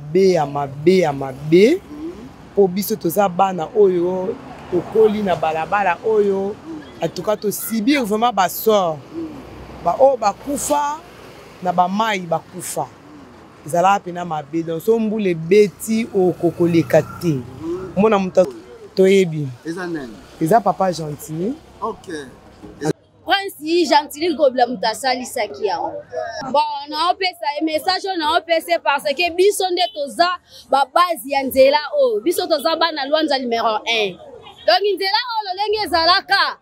mabe ya mabe ya mabe mpo biso toza bana oyo tokoli na balabala oyo atuka tosibir vraiment basor baoyo bakufa na bamai bakufa ezalaka mpena mabe donc so mbula ebeti okokoleka te omona moto toyebi eza papa gentil okay. prince gentili kobila moto asalisaki yango bon naopesa ye message oyo naopesa ye parce que biso nde toza babase ya nzela oyo biso toza bana lwanza numero 1 donc nzela oyo lolenge ezalaka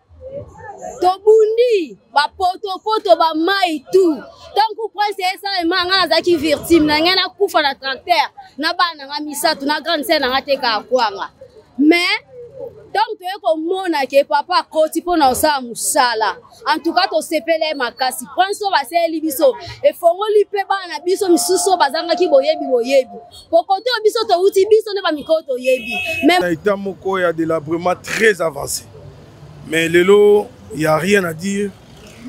tobundi bapotopoto bamai tu ntango prince esala ema ngai nazalaki virtime na ngai nakufa na tracteur na bana na ngai misato na grande sere na ngai te kaakwanga mais ntango toye komona ke papa akoti mpo na kosala mosala antuka tosepela ye makasi prince oyo basaleli biso efongoli mpe bana na biso misusu oyo bazangaki boyebi boyebi pokoto oyo biso towuti biso nde bamikolo toyebi na eta moko ya delabrement très avancé mais lelo ya rien à dire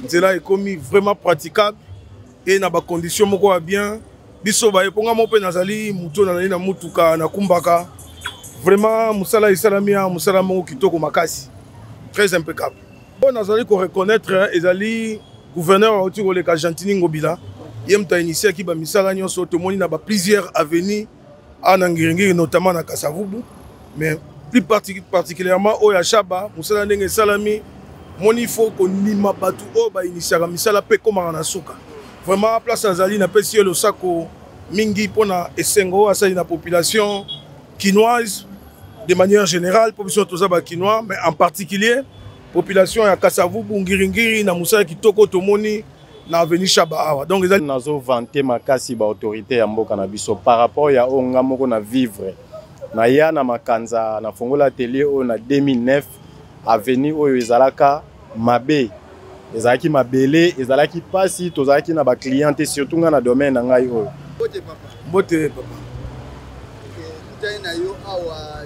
nzela ekomi vraiment praticable e na bacondition moko ya bien biso baye mpo nga moko mpe nazali moto nazali na motuka nakumbaka vraiment mosala esalami ya mosala moko kitoko makasi très impeccable oyo nazali koreconnaitre ezali gouverneur auti koleka gentini ngobila ye moto ainitiaki bamisala nyonso tomoni na baplusieurs avenue awa na ngiringiri notamment na kasavubu mais plus particulièrement oyo ya shaba mosala ndenge esalami moni ifo kondima bato oyo bainitiaka misala mpe ekomaka na suka vraiment place azali napesi ye losako mingi mpo na esengo oyo asali na population kinoise de manière générale mpo biso toza bakinois mais en particulier population ya kasavubu ngiringiri na mosala kitoko tomoni na avenue shaba awa donc eza nazo vante makasi ba autorité ya mboka na biso par rapport ya oyo nga moko na vivre na ya na makanza na fongola atelier oyo na 2009 avenue oyo ezalaka mabe ezalaki mabele ezalaki mpasi tozalaki na baclient te surtout ngai na domaine na ngai oyo mbote papa mbote papa okay, na yo awa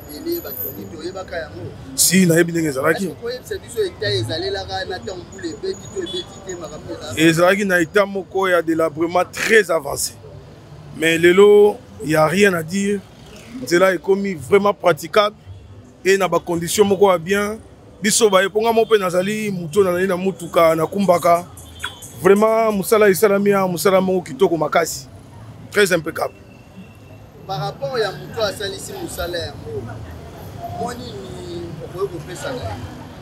si nayebi ndenge ezalaki ezalaki na etat moko ya delabrement très avancé mais lelo ya rien à dire nzela ekomi vraiment praticable e na bacondition moko ya bien biso baye mpo ngai moko mpe nazali motu oyo nazali na motuka nakumbaka vraiment mosala esalami ya mosala moko kitoko makasi très impeccable par rapport ya moto asalisi mosala yango mwa nini okoki kopesa na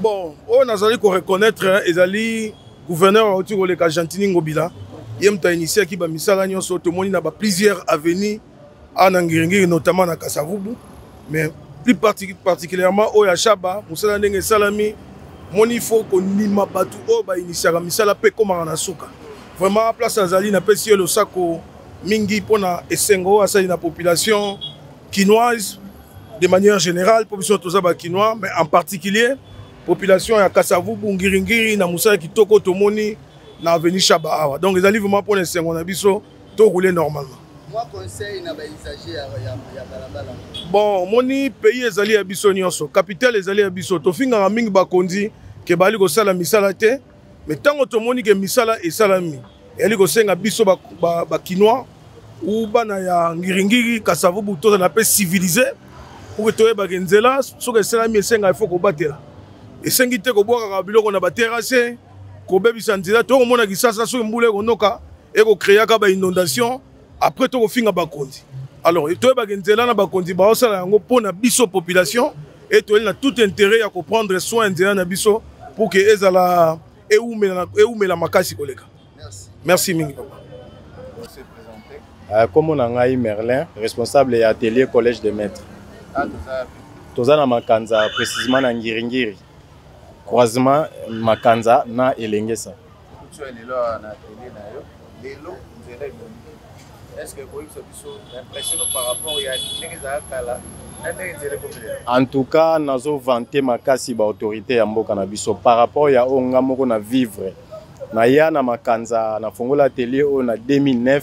bon oyo nazali koreconnaitre ezali gouverneur auti koleka gentini ngobila ye moto ainitiaki bamisala nyonso tomoni na baplusieurs avenue awa na ngiringiri notamment na kasavubu mais plus particulièrement oyo ya shaba mosala ndenge esalami moni fo kondima bato oyo bainitiaka misala mpe ekomaka na suka vraiment place azali napesi ye losako mingi mpo na esengo oyo asali na population kinoise de manière générale mpo biso toza bakinois mais en particulier population ya kasavubu ngiringiri na mosala kitoko tomoni na avenue shaba awa donc ezali vraiment mpo na esengo na biso tokoule normalement bon omoni pays ezali ya biso nyonso capitale ezali ya biso tofingaka mingi bakonzi ke bazali kosala misala te mais ntango tomoni ke misala esalami eyali kosenga biso bakinois ou bana ya ngiringiri kasavubu tozala mpe civilise pour ke toyebake nzela soki esalami esenga ifo kobatela esengi te kobwakaka biloko na baterase kobebisa nzela tokomona kisasa soki mbula ekonoka ekokreaka bainondation après tokofinga bakonzi alors toyebake nzela na bakonzi baosala yango mpo na biso population e toyeli na tout intérêt ya koprendre soin nzela na biso pour ke ezala eumela, eumela makasi koleka merci, merci mingi papa nkombo euh, na ngai merlin responsable ya atelier collège de maître ah, toza na makanza précisement na ngiringiri croisement makanza na elengesa Kutu ya lelo awa na atelier na yo lelo nzela ebongi est-ce que ekoyebisa biso impression par rapport ya ndenge ezala kala en tout cas nazo vante makasi baautorité ya mboka na biso par rapport ya oyo nga moko na vivre naya na makanza nafongola atelier oyo na 2009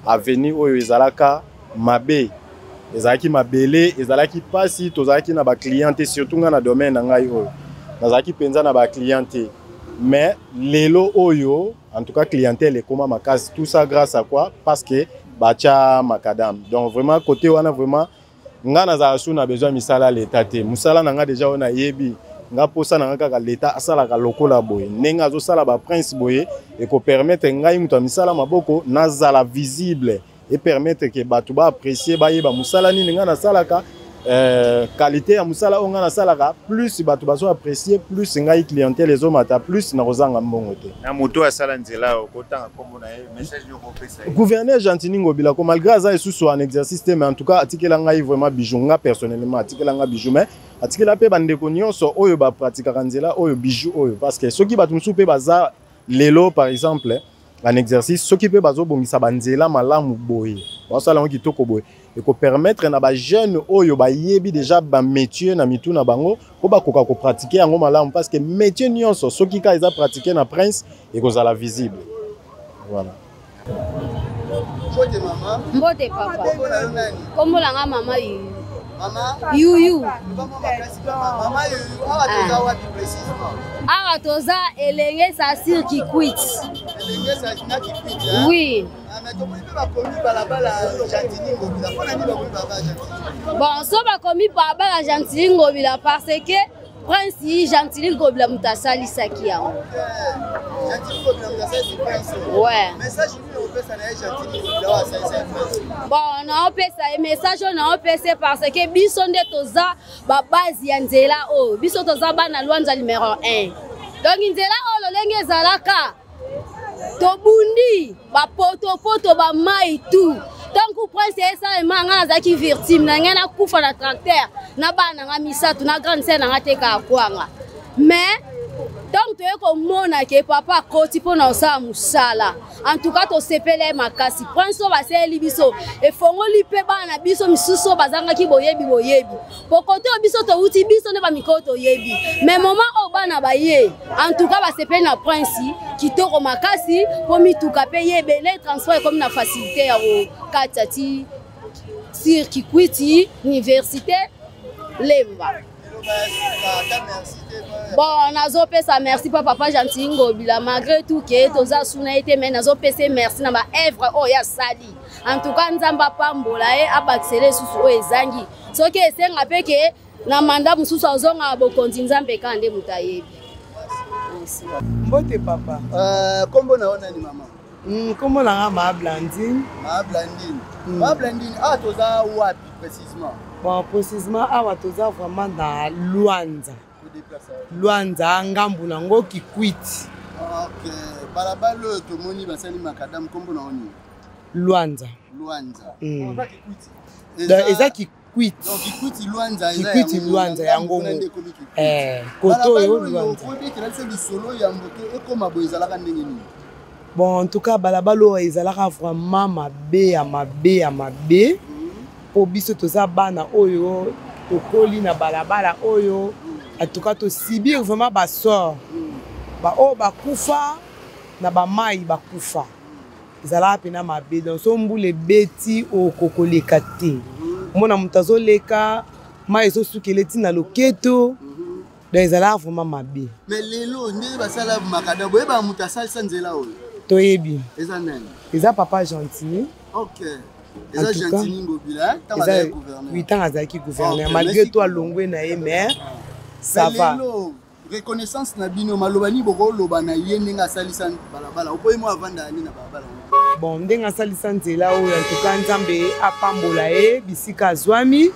Avenue oyo ezalaka mabe, ezalaki mabele, ezalaki pasi, tozalaki na ba clients te, surtout nga na domaine na ngai oyo. Nazalaki penza na ba clients te. Mais lelo oyo, en tout cas clientèle ekoma makasi. Tout ça grâce à quoi? Parce que bacha macadam. Donc vraiment côté wana vraiment nga nazalaka su na besoin misala ya leta te mosala na nga deja oyo nayebi nga mposa na nga kaka leta asalaka lokola boye ndenge azosala baprince boye ekopermetre ngai moto ya misala maboko nazala visible epermetre ke bato baapprécie bayeba mosala nini ngai nasalaka Euh, qualité ya mosala oyo ngai nasalaka plus bato bazo apprécier plus ngai clientèle ezomata plus nakozanga mbongo te na moto oyo asala nzela oyo kotanga nkombo na ye message gouverneur gentini ngobila ko malgré aza esusu en exercice te mais en tout cas atikela ngai vraiment bijou nga personnellement atikela ngai bijou mais atikela mpe bandeko nyonso oyo bapratikaka nzela oyo bijou oyo parce que soki bato mosusu mpe baza lelo par exemple en exercice soki mpe bazobongisa banzela malamu boye basala yango kitoko boye ekopermettre na bajeune oyo bayebi deja bamétier na mitu na bango mpo bakoka kopratike yango malamu parce que métier nyonso soki kaka eza pratike na prince ekozala visible voilà mbote mama mbote papa kombo na nga mama yuyu yuyu awa toza elenge sasir kikwit oui bon so bakomi balabala gentili ngobila parce que prince yi gentili ngobila moto asalisaki yango bon naopesa ye message oyo naopesa ye parce que biso nde toza babase ya nzela oyo biso toza bana lwanza numero 1 donc nzela oyo lolenge ezalaka tobundi bapotopoto bamai tout ntango prince esalema ngai nazalaki virtime na ngai nakufa na tracteur na bana na ngai misato na grande sere na ngai tekaka kwanga mais ntango toye komona ke papa akoti mpo na kosala mosala antuka tosepele makasi prince oyo basaleli biso efongoli mpe bana na biso misusu oyo bazangaki boyebi boyebi pokoto oyo biso towuti biso nde bamikolo toyebi me moma oyo bana baye antuka basepeli na prince kitoko makasi mpo mituka mpe ye ebele transport ekomi na facilité ya kokatisa ti sir kikwiti université lemba bon nazopesa merci mpo papa gentil ngobila malgré tout ke toza suna ye te mai nazopesa ye merci na baevre oyo asali en tout cas nzambe apambola ye abakisela esusu oyo ezangi soki esenga mpe ke na manda mosusu azonga bokonzi nzambe kaka nde moto ayebi mbote papa eh, nkombo na yo nani mama hmm, nkombo na nga maa blandine maa blandine hmm. maa blandine awa ah, toza wapi précisement bon précisement awa toza vraiment na lwanza lwanza ngambu nango kikwiti balabala oyo tomoni basali makadamu nkombo na yo nini lwanza lwanza hmm. eza kikwiti kikwiti lwanza yango eh, koto oyo lwanza bon en tout cas balabala oyo ezalaka vraiment mabe ya mabe ya mabe mpo mhm. biso toza bana oyo tokoli na balabala oyo en tout cas tosibir vraiment basort mhm. baoyo bakufa na bamai bakufa ezalaka mpena mabe donc so mbula ebeti okokoleka te mhm. mona moto azoleka mai ezosukela eti na loketo mhm. donc ezalaka vraiment mabe me lelo ndenge basala makada boyeba moto asalisa nzela oyo toyebi eza nani eza papa gentil okay. eza gentini ngobila ntango azalaki gouverneur malgré to alongwe na ye mais ça va reconnaissance na bino maloba nini bokoloba na ye ndenge asalisa balabala okoyi mwa avanda yani na balabala bon ndenge asalisa nzela oyo antuka nzambe apambola ye bisika azwami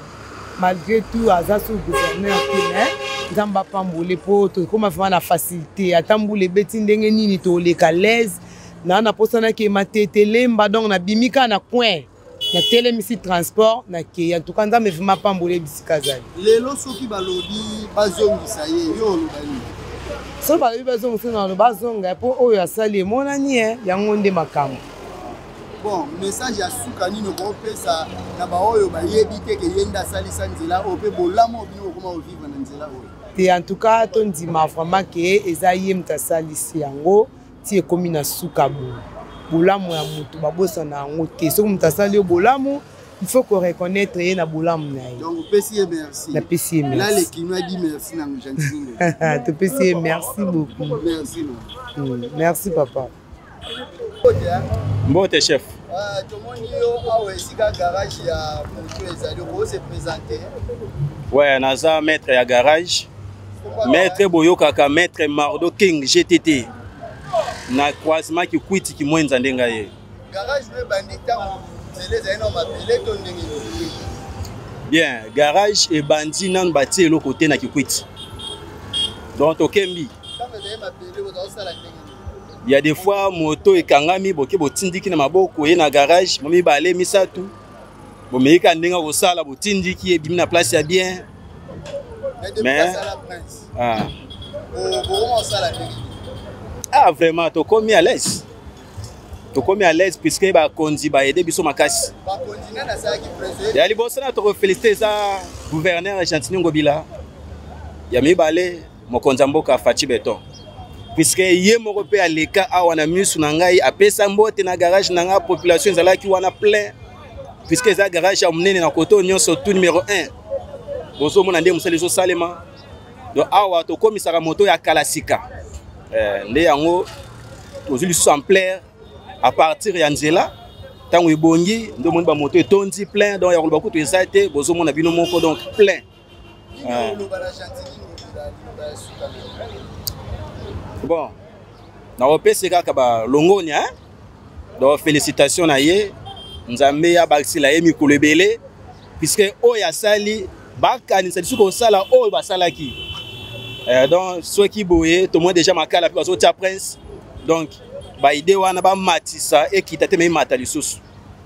malgré tout aza sur gouverneur te mais nzambe apambole mpo tokoma vraimen na facilité ata mbula ebeti ndenge nini toleka laise naa naposanaki ye matete lemba donc nabimi kaka na coin natelemisi transport nakei antuka nzambe vrima apambola ye bisika azali lelo soki balobi bazongisa ye yo oloba nini soki balobi bazongisa na baloba azonga mpo oyo asali emonani ye eh, yango nde makambo bon message ya suka nini okopesa na baoyo bayebi te ke ye nde asalisa nzela oyo mpe bolamu oyo bino bokoma kovivre na nzela oyo te en tout cas tondima vraiment ke eza ye moto asalisi yango ti ekomi na suka bo bolamu ya moto babosana yango te soki moto asali yo bolamu il faut ko reconnaître ye na bolamu na ye donc opesi ye merci napesi ye merci là le kino a dit merci na gentine topesi ye merci beaucoup merci hmm, merci papa mbote chef ah, tomoni yo awa esika garage ya moto ezali okose présente ouais naza maître ya garage Maître boyokaka maître Mardo King GTT na croisement kikwiti kimwenza nde ngai ye garage mpe ebandi ntango nzela ezali na mabele to ndenge bien garage ebandi nanu batie eloko te na kikwiti donc tokembi ya des fois moto ekangami boke botindiki na maboko ye na garage mo mibale misato bomeyika ndenge akosala botindiki ebimi na place ya bien mais ah. ah vraiment tokomi à l'aise tokomi à l'aise puisque bakonzi baede biso makasi ya liboso na tokofélicité eza gouverneur gentini ngobila ya mibale mokonzi ya mboka faci beton puiske ye moko mpe aleka awa na misu na ngai apesa mbote na garage na ngai population ezalaki wana plein puiske eza garage ya monene na koto nyonso tout numero 1 bozomona nde mosala ezosalema don awa tokomisaka moto ya kala sika eh, nde yango tozwi lisusu ampleur à partir ya nzela ntango ebongi nde omoni bamoto etondi plein donc ya koloba kutu eza te bozomona bino moko donc plein bon nakopesi kaka balongonia hein? donc félicitation na ye nzambe abakisela ye mikolo ebele puiske oyo asali bakanisa lisusu kosala oyo basalaki eh, donc soki boye tomoni déjà makala mpe bazotia prince donc baide wana bamatisa ekita te meimata lisusu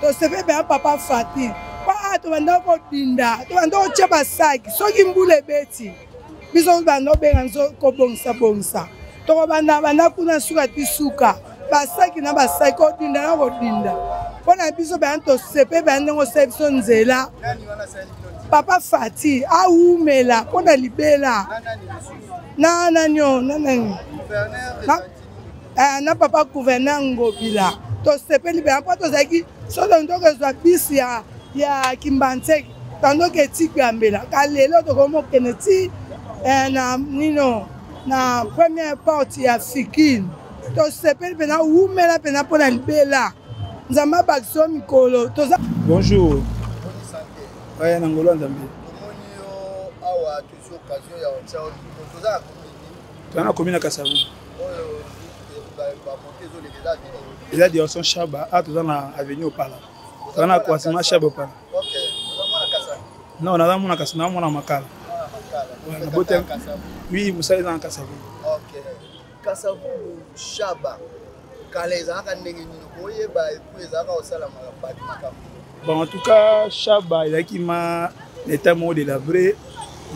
tosepeli mpenza papa fati mpo a tobanda kobinda tobanda kotya basaki soki mbula ebeti biso tobanda obenga nzo kobongisa bongisa tokobanda banda kuna suka ti suka basaki na basaki kodinda na kodinda mpo na biso bana tosepeli bana ndenge osali biso nzela papa fati awumela mpo na libela na nanio na nani eh, na papa gouverneur ngobila tosepeli mpenza mpo tozalaki solo ndoko ezwa bisi ya, ya kimbanseki tandoko etiki ya mbela ka lelo tokomi okende ti eh, na nino na première porte ya fikine tosepeli mpenza wumela mpenza mpo na libela nzambe abakisa yo mikolo toza bonjour aya na ngolo ya nzambe toza na komi na kasavu eza direction shaba a toza na avenue opala toza na croisement shaba opala non naza mona kasi naa mona makala naboti wi mosala eza na kasavu kasavu shaba kala ezalaka ndenge nini koyeba epu ezalaka kosalama na bato makambo bon en tout cas shaba ezalaki ma na etat moko de labre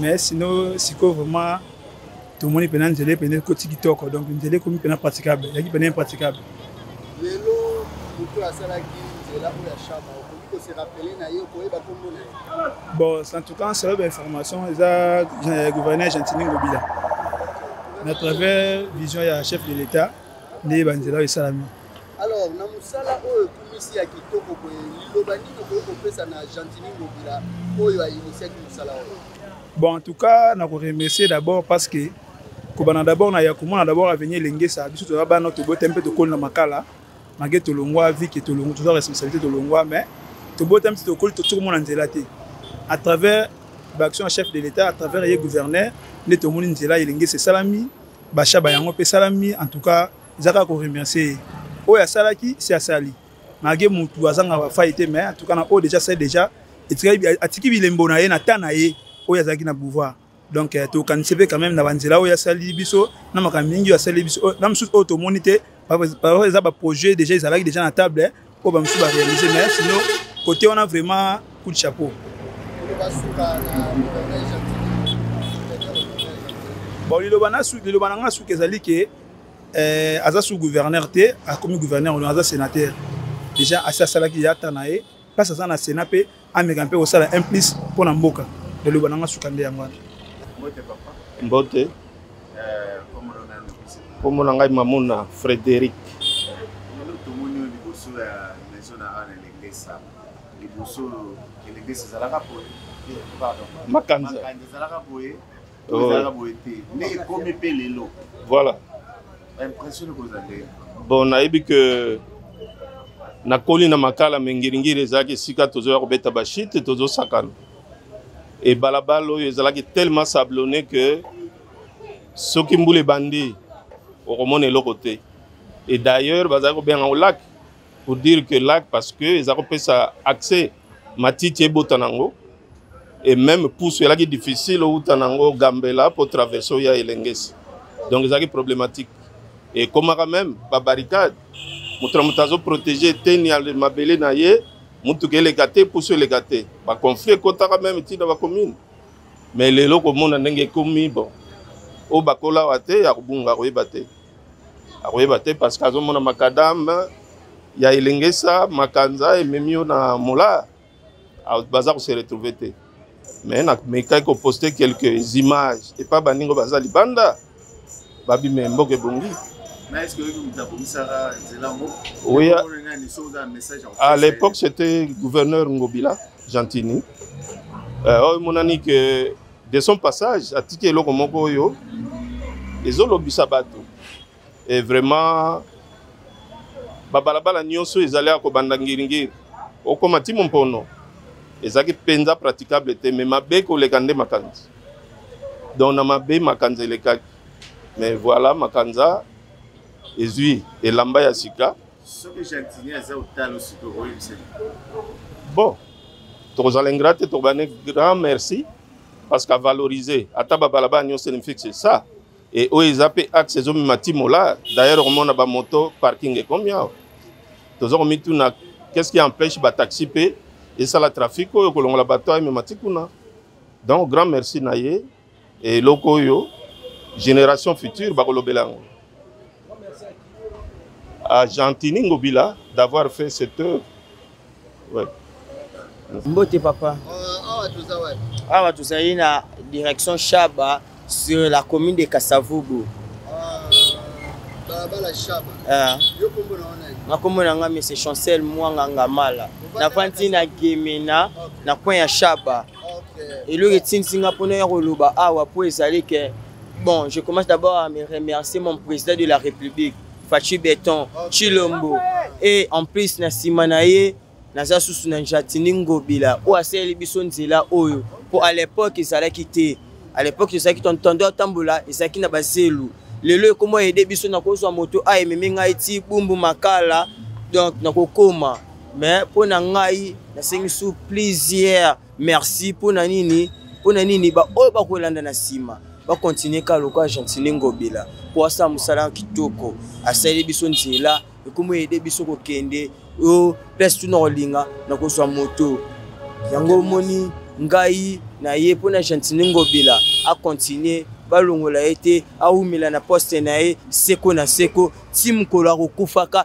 mais sino sikoyo vraiment tomoni mpena nzela mpena ekoti kitoko donc nzela ekomi mpena praticable ezalaki mpena impraticable lelo moto asalaki nzela oyo ya shaba okoki koserapele na ye okoyeba kombo na ye bon en tout cas nsala bainformation eza gouverneur gentini ngobila na travers vision ya chef de l'état nde banzela oyo esalami alors na mosala oyo ekumisi ya kitoko boye liloba nini okoki kopesa na gentini ngobila oyo ainitiaki mosala oyo bon en tout cas na koremercier d'abord parce que kobanda d'abord na ya komona d'abord avenir elengesa biso toza bana tobota mpe tokoli na makala mage tolongwa vike tolongwa toza responsabilité tolongwa mais tobota mpe tokoli tosi komona nzela te à travers baaction ya chef de l'état à travers ye gouverneur nde tomoni nzela elengesa esalami basha ba yango mpe esalami en tout cas eza kaka koremercie ye oyo asalaki si asali malgré motu azanga bafai te mais en tout cas na oyo déjà asali déjà atiki bilembo na ye na temps na ye oyo azalaki na pouvoir donc euh, tokanisi mpe quand même na banzela oyo asali biso na makambo mingi oyo asali biso na mosusu oyo tomoni te eza baprojet déjà ezalaki déjà na table oyo bamosusu barealise mais sino kote wana vraiment coup de chapeau bon liloba na nga suka ezali ke eh, aza sous gouverneur te akomi gouverneur aza sénateur déjà asi asalaki yata na ye place aza na sénat mpe ameka mpe kosala un plus mpo na mboka eloba na nga suka nde yango wana mbote eh, nkombo na ngai mamona frédéric tomoni oyo liboso ya maison na ana elengesa liboso elengesa ezalaka boye eh, makanza ezalaka boye ezalaka boye te nde ekomi mpe lelo voilà impression ekozala nde bon nayebi ke nakoli na makala me ngiringiri ezalaki esika tozoya kobeta bashite tozosakana e balabala oyo ezalaki tellement sablone ke soki mbula ebandi okomona eloko te e d'ailleurs bazalaki kobenga yango laki pour dire que lac parce que eza kopesa accès matiti ebota nango et même pusu elaki difficile outa nango gambela mpo traverse oya elengesi donc ezalaki problématique ekomaka même babarricade moto na moto azoprotege eteni ya mabele na ye motuka eleka te pusu eleka te baconflit ekotaka meme ntina bacommune mais lelo komona ndenge ekomi bon oyo bakolawa te ya kobunga koyeba te akoyeba te parce que azomona makadame ya elengesa makanza ememi yo na mola baza kose retrouve te mais namekaki koposte quelques images epa baningo baza libanda babima mboka ebongi oui, à l'époque c'était gouverneur ngobila gentini euh, oyo oh, emonani ke De son passage, atiki eloko moko oyo ezolobisa bato e vraiment babalabala nyonso ezali ya kobanda ngiringiri okoma ti mompono ezalaki mpenza praticable te mais mabe koleka nde makanzi donc na mabe makanza elekaki mais voilà makanza ezwi elamba ya sika soki gentini aza otalo sikoyo oyebisani bon tokozala ingra te tokobane grand merci parce que avaloriser ata babalabala nyonso elimfixe ça e oyo eza mpe axe ezomema timola d'ailleurs okomona bamoto parking ekomi awa toza komituna qu'est-ce qui empêche bataxi mpe esala trafic oyo kolongola bato amema ti kuna donc grand merci na ye eloko oyo génération future bakolobela yango agentini ngobila d'avoir fait cette œuvre ouais. mbote papa euh, awa tozali na direction shaba sur la commune de kasavubu nakombo na ngai mese chancel mwanga ngamala nafandi na gemena na coin ya shaba okay. eloko etindisi nga mpona ya koloba awa ah, mpo ezali ke bon je commence d'abord à me remercier mon président de la république fachi beton chilombo et en plus na nsima na ye naza susu na njatini ngobila oyo asaleli biso nzela oyo mpo à l'époque ezalaki te à l'époque ezalaki tontondo atambola ezalaki na bazelu lelo ekoma ede biso nakozwa moto aememi ngai ti bumbu makala donc nakokoma mais mpo na ngai nasengi su plusieurs merci mpo na nini mpo na nini baoyo bakolanda na nsima bakontinue kaka lokola gentine ngobila mpo asala mosala kitoko asali biso nzela ekomi ede biso kokende o place tuna kolinga na kozwa moto yango omoni ngai na ye mpo na gentine ngobila akontinue balongola ye te awumela na poste na ye seko na seko ti mokolo akokufaka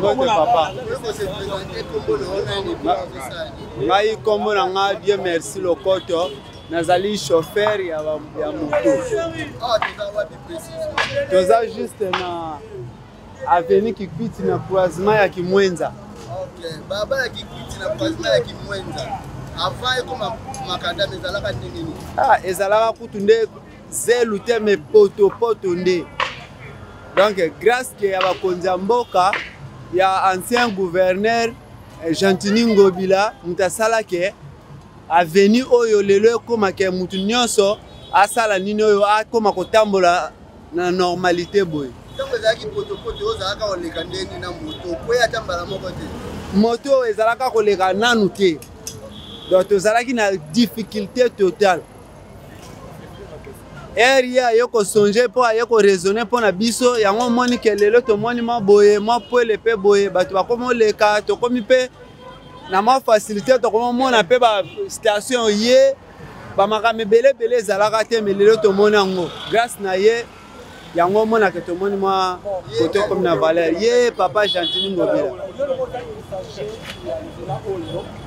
mbote papa ngai nkombo na ngai dieu merci lokoto nazali chauffeur ya, ya moto ah, toza juste na avenue kikwiti na croisement ya kimwenza okay. baba ya kikwiti na croisement ya kimwenza avant ekoma makadame ezalaka ndenge nini ah, ezalaka kutu nde zelu te me potopoto nde donc grâce ke ya bakonzi ya mboka ya ancien gouverneur eh, gentini ngobila moto asalaki Avenue oyo lelo ekoma ke mutu nyonso asala nini oyo akoma kotambola na normalite boye. Tango ezalaki potopoto ozalaka koleka ndenge na moto okwei ata mbala moko te. Moto ezalaka koleka nanu te. Donc tozalaki na difficulté totale. ere ye aye kosonge mpo aye koraisonne mpo na biso yango omoni ke lelo tomoni mwa boye mwa pwele mpe boye bato bakomi oleka tokomi mpe na mwa facilité tokomomona mpe bastation ye bamakambo ebele ebele ezalaka te me lelo tomoni yango grâce na ye yango omonaka tomoni mwa kote okomi na valeur ye papa gentini ngobila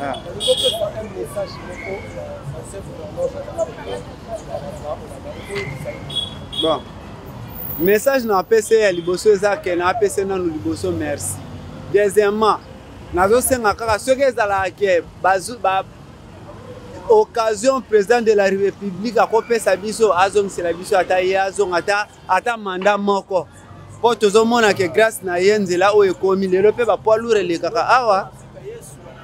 ah. bon message na apesi ya liboso eza ke na apesi nano liboso merci deuxièmement nazosenga kaka soki ezalaka ke occasion président de la république akopesa biso azongisela biso ata ye azonga ata ata manda moko mpo tozomona ke grâce na ye nzela oyo ekomi lelo mpe bapoids lourd elekaka awa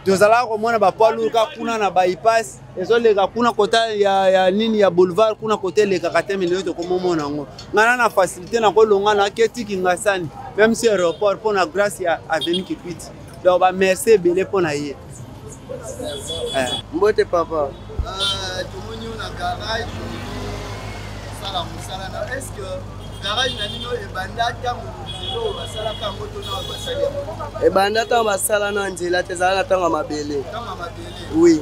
tozalaka komona bapoids lourd ka kuna na bypass ezoleka kuna kota ya, ya nini ya boulevard kuna kota elekaka te milio tokomomona yango ngana na facilité nakolonga na keti kingasani même si aéroport mpo na grâce ya aveni kipiti donc bamerci ebele mpo na ye eh. mbote papa ah, tomoni yo na garage osala mosala na est ce que garage na bino ebanda ntango oyo basalaka yango to na basali yango ebanda ntango basala na nzela te ezala na ntango ya mabele oui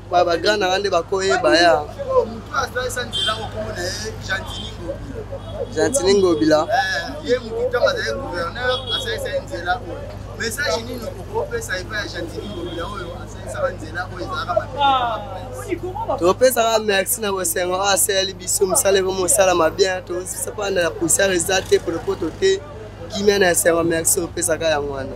ba ba grand nanga nde bakoyeba ya gentini ngobila ye motu ntango azali gouverneur asalisa ye nzela oyo message nini okopesa epai ya gentini ngobila oyo asalisaka nzela oyo ezalaka mabe topesaka merci na bosengo oyo asaleli biso mosala ekomi mosalama bien tozosapanda na poussière eza te podopoto te kimia na esengo merci opesaka yango wana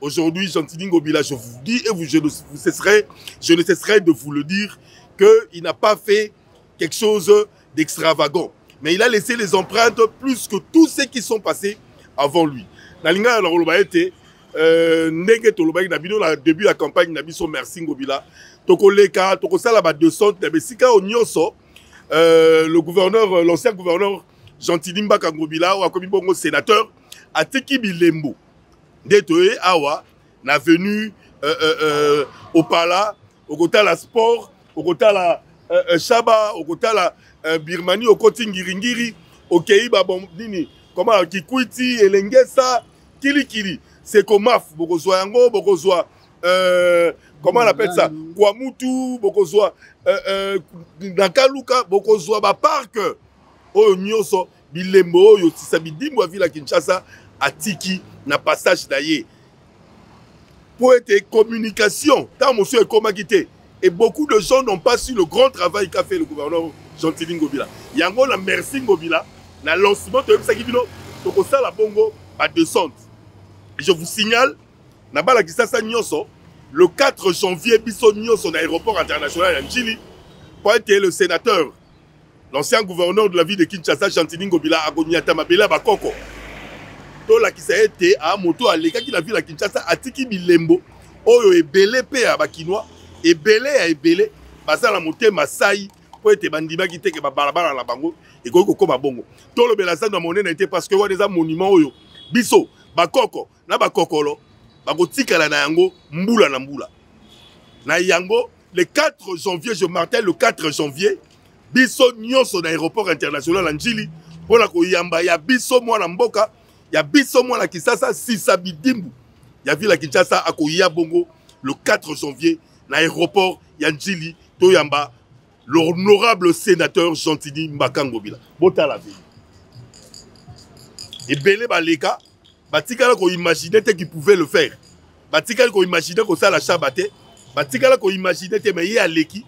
Aujourd'hui, Gentini Ngobila, je vous dis et vous, je, ne, vous cesserai, je ne cesserai de vous le dire qu'il n'a pas fait quelque chose d'extravagant. Mais il a laissé les empreintes plus que tous ceux qui sont passés avant lui. Nalinga na koloba ete euh, ndenge tolobaki na bino na début ya campagne na biso merci ngobila tokoleka tokosala ba 200 na bisika oyo nyonso euh, le gouverneur euh, l'ancien gouverneur gentili mbaka ngobila oyo akomi bongo sénateur atiki bilembo nde toye awa na venu euh, euh, euh, opala okotala sport okotala euh, euh, shaba okotala euh, birmanie okoti ngiringiri okei babom nini koma kikwiti elengesa kilikili sekomaf bokozwa yango bokozwa euh, comment on appelle ça kwamutu bokozwa euh, euh, na kaluka bokozwa baparke oyo nyonso bilembo oyo tisa bidimbo ya vila kinshasa atiki na passage na ye mpo ete communication ntango mosusu ekomaki te et beaucoup de gens n'ont pas su le grand travail qu'a fait le gouverneur gentili ngobila yango na merci ngobila na lancement toyebisaki bino tokosala bongo badescente je vous signale na bala kisasa nyonso le 4 janvier biso nyonso na aéroport international ya njili mpo ete le sénateur L'ancien gouverneur de la ville de Kinshasa, Gentini Ngobila, akonyata mabele ya bakoko. Tolakisa ete a moto alekaki na ville ya Kinshasa atiki bilembo oyo ebele mpe ya bakinois ebele ya ebele baza na motema sai mpo ete bandimaki te ke babalabala na bango ekoki kokoma bongo. Tolobela zando ya monene te parce que wana eza monument oyo biso bakoko na bakokolo bakotikala na yango mbula na mbula na yango le 4 janvier je martel le 4 janvier biso nyonso na aéroport international ya njili mpo na koyamba ya biso mwana mboka ya biso mwana kisasa sisa bidimbu ya ville ya kinshasa akoya bongo le 4 janvier na aéroport ya njili toyamba l'honorable sénateur gentini mbakangobila botala veni ebele baleka batikala koimagine te qui pouvait le faire batikali koimagine kosala shaba te batikala koimagine te mai ye aleki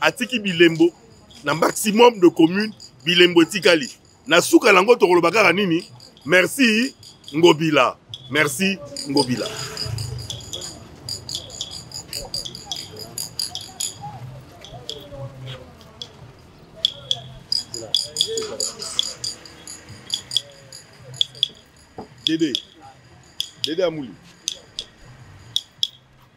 atiki bilembo na maximum de commune bilembo etikali na suka na yango tokoloba kaka nini merci ngobila merci ngobila dede dede amuli